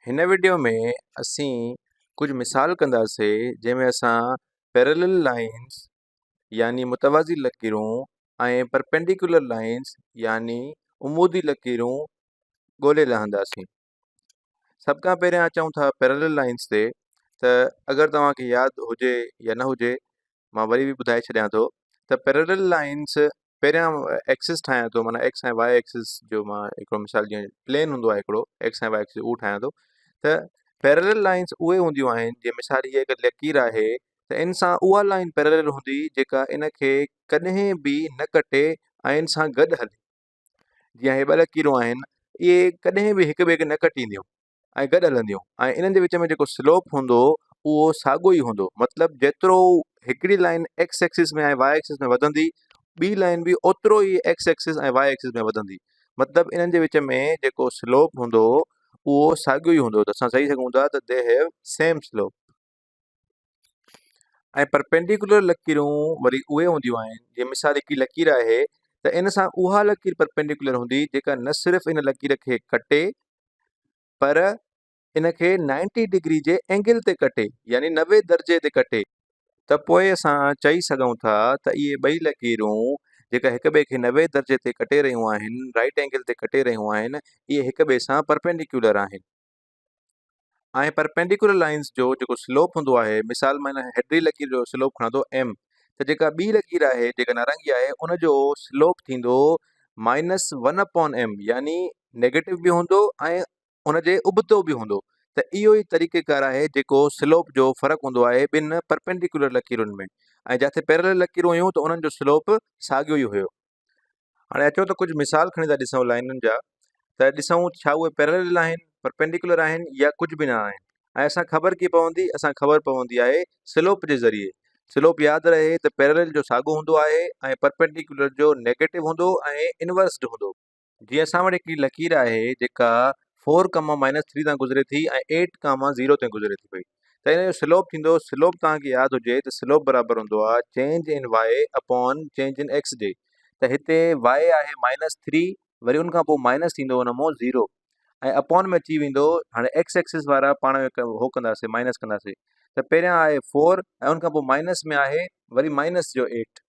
هن وڊيو ۾ اسين ڪجهه مثال ڪنداسين جنهن ۾ اسان Parallel Lines يعني متوازي لڪيرون ۽ Perpendicular Lines يعني عمودي لڪيرون ڳولي لهنداسين سڀ کان پهريان اچون ٿا Parallel Lines تي ته اگر توهان کي ياد هجي يا نه هجي مان وري به ٻڌائي ڇڏيان ٿو ته پيرلل لائنس پهريان ايڪسس ٺاهيان ٿو مانا ايڪس ۽ واء ايڪسس جو مان هڪڙو مثال جيئن پلين هوندو آهي هڪڙو ايڪس ۽ واء ايڪسس اهو ٺاهيان ٿو ته پيرلل لائنس اهي هونديون آهن جيئن مثال هيء هڪ لڪير آهي ته ان سان اها لائن پيرلل هوندي جيڪا ان کي ڪڏهن به نه ڪٽي ۽ ان سان گڏ هلي جيئن هي ٻه لڪيرون آهن اهي ڪڏهن به هڪ ٻئي کي نه ڪٽينديون ۽ گڏ هلنديون ۽ انهن جي وچ ۾ جيڪو سلوپ هوندو اهو ساڳو ئي هوندو مطلب جيترو هڪڙي line X axis ۾ ۽ Y axis ۾ وڌندي ٻي لائين به اوترو ئي ايڪس ايڪسس ۽ واء ايڪسس ۾ وڌندي مطلب انهن جي وچ ۾ جيڪو سلوپ هوندو اهو ساڳيو ئي هوندو ته اسان چئي سگهون ٿا ته they have same slope. ۽ Perpendicular لڪيرون وري اهي هونديون آهن، جيئن مثال هڪڙي لڪير آهي ته ان سان اها لڪير پرپينڊيڪولر هوندي جيڪا نه صرف ان لڪير کي ڪٽي پر ان کي نائنٽي ڊگري جي اينگل تي ڪٽي يعني نوي درجي تي ڪٽي ته پوء اسان چئي سگهون ٿا ته اهي ٻئي لڪيرون جيڪا هڪ ٻئي کي نوي درجي تي ڪٽي رهيون آهن Right Angle تي ڪٽي رهيون آهن اهي هڪ ٻئي سان پرپينڊيڪولر آهن. آهي پر پينڊيڪولر لائنز جو جيڪو سلوپ هوندو آهي مثال مان هن هيڊري لڪير جو سلوپ کڻان ٿو ايم ته جيڪا ٻي لڪير آهي جيڪا نارنگي آهي ان جو سلوپ ٿيندو مائنس ون اپون ايم يعني نيگيٽو به هوندو ۽ ان جي ابتو به هوندو ته اهو ئي طريقه ڪار آهي جيڪو سلوپ جو فرق هوندو آهي ٻن پرپينڊيڪولر لڪيرن ۾ ۽ جاٿي پيرلل لڪيرون هيون ته انهن جو سلوپ ساڳيو ئي هيو هاڻي اچو ته ڪجهه مثال کڻي ٿا ڏسون لائنن جا ته ڏسون ڇا اهي پيرلل آهن پرپينڊيڪولر آهن يا ڪجهه به نه آهن ۽ اسان خبر ڪي پوندي اسان خبر پوندي آهي سلوپ جي ذريعي سلوپ ياد رهي ته پيرلل جو ساڳو هوندو آهي ۽ پرپينڊيڪولر جو نيگيٽو هوندو ۽ انورسڊ هوندو جي اسان وٽ هڪڙي لڪير آهي جيڪا فور ڪاما مائنس ٿري تان گذري ٿي ۽ ايٽ ڪاما زيرو تي گذري ٿي پئي ته ان جو سلوپ ٿيندو سلوپ توهان کي ياد هجي ته سلوپ برابر هوندو آهي change in Y upon change in X جي ته هتي وائي آهي مائنس ٿري وري ان کان پوء مائنس ٿيندو ان مون زيرو ۽ اپون ۾ اچي ويندو هاڻي ايڪس ايڪسس وارا پاڻ ۾ هو ڪنداسي مائنس ڪنداسي ته پهريان آهي فور ۽ ان کان پوء مائنس ۾ آهي وري مائنس جو ايٽ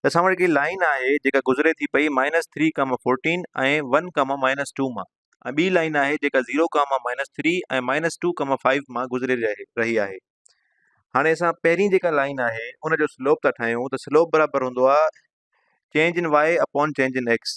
ته اسان وٽ هڪڙي لائن آهي جيڪا گذري ٿي پئي minus three comma fourteen ۽ one comma minus two مان ۽ ٻي لائن آهي جيڪا zero comma minus three ۽ minus two comma five مان گذري رهي آهي هاڻي اسان پهرين جيڪا لائن آهي ان جو سلوپ ٿا ٺاهيون ته سلوپ برابر هوندو آهي change in Y upon change in X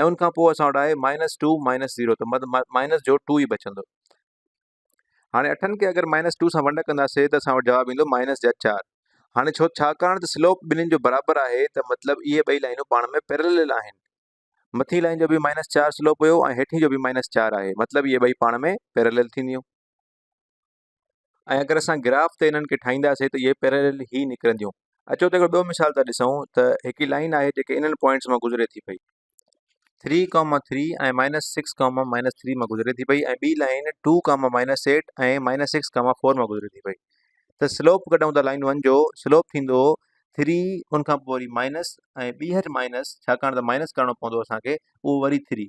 ۽ ان کان پوء اسان وٽ آهي مائنس ٽو مائنس زيرو ته مائنس جو ٽو ئي بچندو هاڻي اٺن کي اگر مائنس ٽو سان ونڊ ڪنداسي ته اسان وٽ جواب ايندو مائنس جا چار هاڻي ڇو ڇاڪاڻ ته سلوپ ٻنهين جو برابر آهي ته مطلب اهي ٻئي لائنون پاڻ ۾ پيرلل آهن مٿين لائن جو به مائنس چار سلوپ هيو ۽ هيٺين جو به مائنس چار آهي مطلب اهي ٻئي پاڻ ۾ پيرلل ٿينديون ۽ اگر اسان گراف تي انهن کي ٺاهينداسين ته اهي پيراليل هي نڪرنديون. اچو ته هڪڙو ٻيو مثال ٿا ڏسون ته هڪڙي لائين آهي جيڪي انهن پوائنٽس مان گذري ٿي پئي. Three comma three ۽ minus six comma minus three مان گذري ٿي پئي ۽ ٻي line two comma minus eight ۽ minus six comma four مان گذري ٿي پئي ته سلوپ ڪڍون ٿا لائين ون جو سلوپ ٿيندو ٿري ان کان پوء وري مائنس ۽ ٻيهر مائنس ڇاڪاڻ ته مائنس ڪرڻو پوندو اسان کي اهو وري ٿري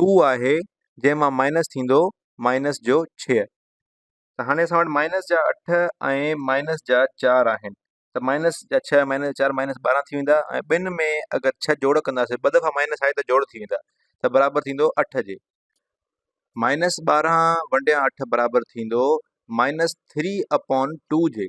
ٽو آهي جنهن مان مائنس ٿيندو مائنس جو ڇهه ته هاڻي اسان وٽ مائنس جا اٺ ۽ مائنس جا چار آهن ته مائنس جا ڇهه ۽ مائنس جا چار مائنس ٻارهن ٿي ويندا ۽ ٻن ۾ اگر ڇهه جوڙ ڪنداسي ٻه دفعا مائنس آهي ته جوڙ ٿي ويندا ته برابر ٿيندو اٺ جي مائنس ٻارهن ونڊيان اٺ برابر ٿيندو مائنس ٿري اپون ٽو جي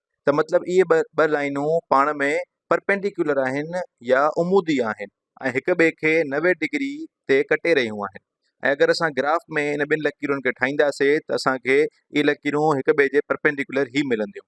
ته مطلب اهي ٻه لائينون پاڻ ۾ پرپينڊيڪيولر آهن يا عمودي آهن ۽ هڪ ٻئي کي نوي ڊگري تي ڪٽي رهيون آهن ۽ اگر اسان گراف ۾ ان ٻن لڪيرن کي ٺاهينداسي ته اسان کي اهي لڪيرون هڪ ٻئي جي پرپينڊيڪيولر ئي ملنديون.